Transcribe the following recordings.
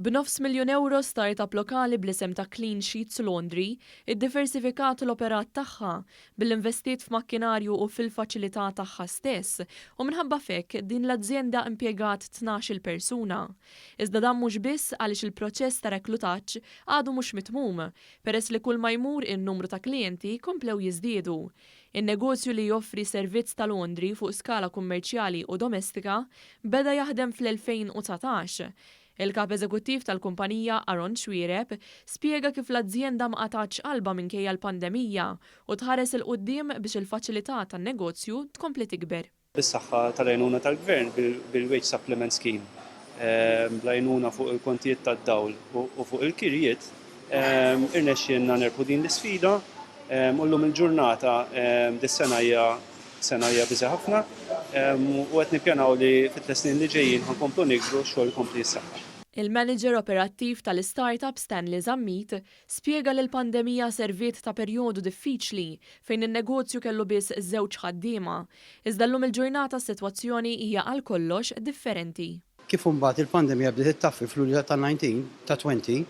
B'nofs miljun ewro start-up lokali bl-isem ta' Clean Sheets Laundry iddiversifikat l-operat tagħha billi investiet f'makkinarju u fil-faċilità tagħha stess u minħabba f'hekk din l-azjenda impjegat tnax-il persuna. Iżda dan mhux biss għaliex il-proċess ta' reklutaġġ għadu mhux mitmum peress li kulma jmur in-numru ta' klijenti komplew jiżdiedu. In-negozju li joffri servizz ta' londri fuq skala kummerċjali u domestika beda jaħdem fl-2019. Il-Kap Eżekuttiv tal-kumpanija, Aron Xuereb, spjega kif l-azjenda ma qatgħatx qalbha minkejja l-pandemija u tħares 'il quddiem biex il-faċilità tan-negozju tkompli tikber. bis-saħħa tal-għajnuna tal-Gvern bil-Wage Supplement Scheme, bl-għajnuna fuq il-kontijiet tad-dawl u fuq il-kirjiet, irnexxielna nirbħu din l-isfida u llum il-ġurnata dis-sena hija sena hija biżi' ħafna u qed nippjanaw li fit-tliet snin li ġejjin ħa nkomplu nikbru x-xogħol ikompli jissaħħaħ. Il-Manager Operattiv tal-IStartup Stanley Zammit Spjega li l-pandemija serviet ta' perjodu diffiċli fejn in-negozju kellu biss żewġ ħaddiema, iżda llum il-ġurnata s-sitwazzjoni hija għal kollox differenti. Kif imbagħad il-pandemija bdiet ittaffi f'Lulju ta' 19 ta' 20,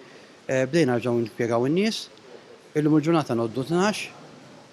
bdejna nerġgħu nimpjegaw in-nies. Illum il-ġurnata ngħoddu tnax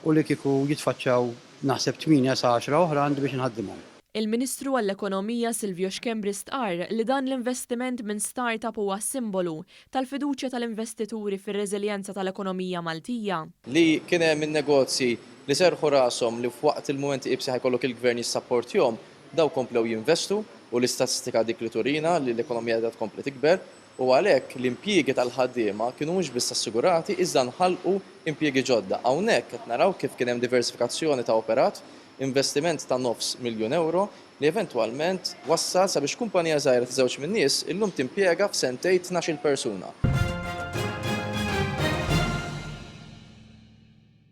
u li kieku jitfaċċaw naħseb tmienja sa għaxra oħra għandi biex inħaddimhom. Il-Ministru għall-Ekonomija Silvio Schembri stqarr li dan l-investiment minn startup huwa simbolu tal-fiduċja tal-investituri fir-reżiljenza tal-ekonomija Maltija. Li kien hemm in-negozji li serrħu rashom li f'waqt il-mumenti iebsi ħa jkollok il-Gvern jissapportjhom, dawk komplew jinvestu u l-istatistika dik li turina li l-ekonomija qiegħda tkompli tikber u għalhekk l-impjiegi tal-ħaddiema kienu mhux biss assigurati iżda nħalqu impjiegi ġodda. Hawnhekk qed naraw kif kien hemm diversifikazzjoni ta' operat, investiment ta' nofs miljun ewro li eventwalment wassal sabiex kumpanija żgħira ta' żewġ min-nies illum timpjega f'sentejn tnax-il persuna.